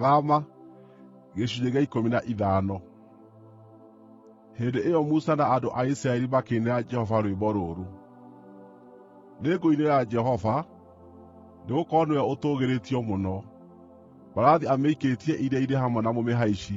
Thama. Hĩndĩ ĩyo Musa na andũ a Isiraeli makĩinĩra Jehova rwĩmbo rũrũ: “Nĩngũinĩra Jehova, nĩgũkorwo nĩwe ũtũũgĩrĩtio mũno. Mbarathi amĩikĩtie iria-inĩ hamwe na mũmĩhaici.”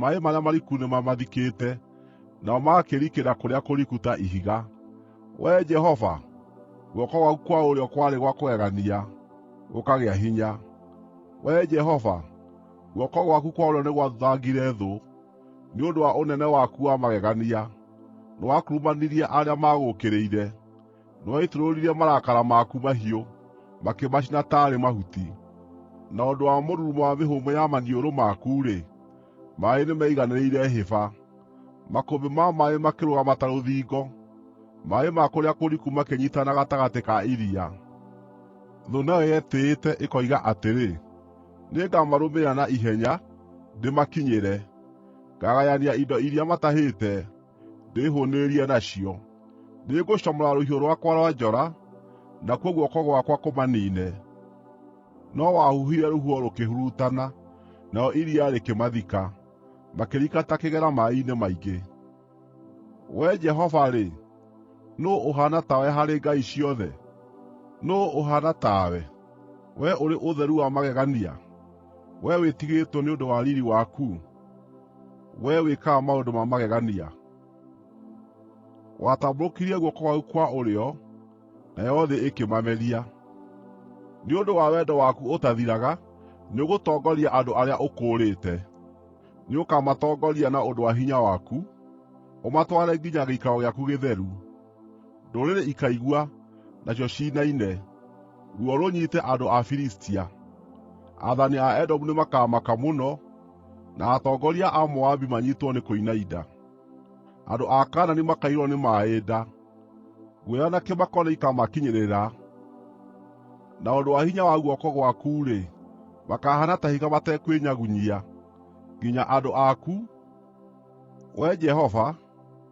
Maaĩ marĩa mariku nĩmamathikĩte; nao magakĩrikĩra kũrĩa kũriku ta ihiga. Wee Jehova, guoko gwaku kwa ũrĩo kwarĩ gwa kũgegania, gũkagĩa hinya. Wee Jehova, guoko gwaku kwa ũrĩo nĩgwathuthangire thũ; nĩ ũndũ wa ũnene waku wa magegania, nĩwakurumanirie arĩa maagũũkĩrĩire. Nĩwaitũrũririe marakara maku mahiũ, makĩmacina taarĩ mahuti; na ũndũ wa mũrurumo wa mĩhũmũ ya maniũrũ maku-rĩ, maaĩ nĩmeiganĩrĩire hĩba. Makũmbĩ ma maaĩ makĩrũgama ta rũthingo, maaĩ ma kũrĩa kũriku makĩnyiitana gatagatĩ ka iria. Thũ nayo yetĩĩte, ĩkoiga atĩrĩ, “Nĩngamarũmĩrĩra na ihenya, ndĩmakinyĩre; ngaagayania indo iria matahĩte.” ndĩĩhũũnĩrĩrie nacio. Nĩngũcomora rũhiũ rwakwa rwa njora, nakuo guoko gwakwa kũmaniine.” No wahuhire rũhuho rũkĩhurutana, narĩo iria rĩkĩmathika, makĩrika ta kĩgera maaĩ-inĩ maingĩ. Wee Jehova-rĩ, nũũ ũhaana tawe harĩ ngai ciothe? Nũũ ũhaana tawe, wee ũrĩ ũtheru wa magegania, wee wĩtigĩrĩtwo nĩ ũndũ wa riiri waku? Wee wĩkaga maũndũ ma magegania? Watambũrũkirie guoko gwaku kwa ũrĩo, nayo thĩ ĩkĩmameria. Nĩ ũndũ wa wendo waku ũtathiraga, nĩũgũtongoria andũ arĩa ũkũũrĩte. Nĩũkamatongoria na ũndũ wa hinya waku, ũmatware nginya gĩikaro gĩaku gĩtheru. Ndũrĩrĩ ikaigua, nacio ciinaine, ruo rũnyiite andũ a Filistia. Aathani a Edomu nĩmakamaka mũno, na atongoria a Moabi manyiitwo nĩ kũinaina. Andũ a Kaanani makaiyũrwo nĩ maaĩ nda; guoya na kĩmako nĩikamakinyĩrĩra. Na ũndũ wa hinya wa guoko gwaku-rĩ, makahaana ta ihiga matekwĩnyagunyia, nginya andũ aku, Wee Jehova,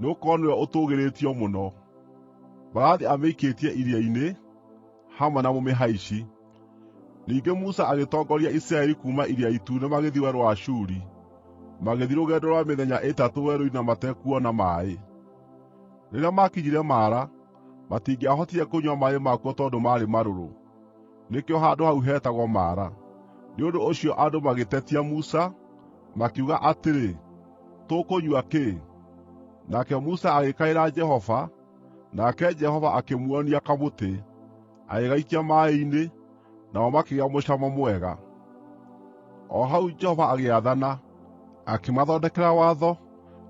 nĩgũkorwo nĩwe ũtũũgĩrĩtio mũno. Mbarathi amĩikĩtie iria-inĩ, hamwe na mũmĩhaici. Ningĩ Musa agĩtongoria Isiraeli kuuma Iria Itune magĩthiĩ Werũ wa Shuri, magĩthiĩ rũgendo rwa mĩthenya ĩtatũ werũ-inĩ na matekuona maaĩ. Rĩrĩa maakinyire Mara, matingĩahotire kũnyua maaĩ makuo tondũ maarĩ marũrũ. (nĩkĩo handũ hau heetagwo Mara). Nĩ ũndũ ũcio andũ magĩtetia Musa, makiuga atĩrĩ, “Tũkũnyua kĩ?” Nake Musa agĩkaĩra Jehova, nake Jehova akĩmuonia kamũtĩ, agĩgaikia maaĩ-inĩ, namo makĩgĩa mũcamo mwega. O hau Jehova agĩathana, akĩmathondekera watho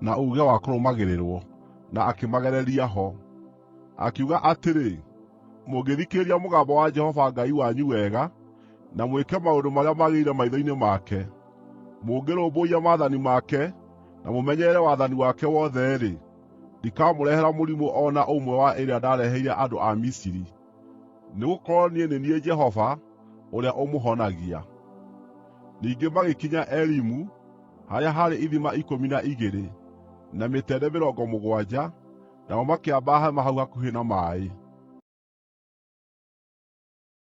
na uuge wa kũrũmagĩrĩrwo, na akĩmagereria ho. Akiuga atĩrĩ, “Mũngĩthikĩrĩria mũgambo wa Jehova Ngai wanyu wega, na mwĩke maũndũ marĩa magĩrĩire maitho-inĩ make, mũngĩrũmbũiya maathani make na mũmenyerere wathani wake wothe-rĩ, ndikamũrehera mũrimũ o na ũmwe wa ĩrĩa ndareheire andũ a Misiri. Nĩgũkorwo niĩ nĩ niĩ Jehova, ũrĩa ũmũhonagia.” Ningĩ magĩkinya Elimu, harĩa haarĩ ithima ikũmi na igĩrĩ, na mĩtende mĩrongo mũgwanja, nao makĩamba hema hau hakuhĩ na maaĩ.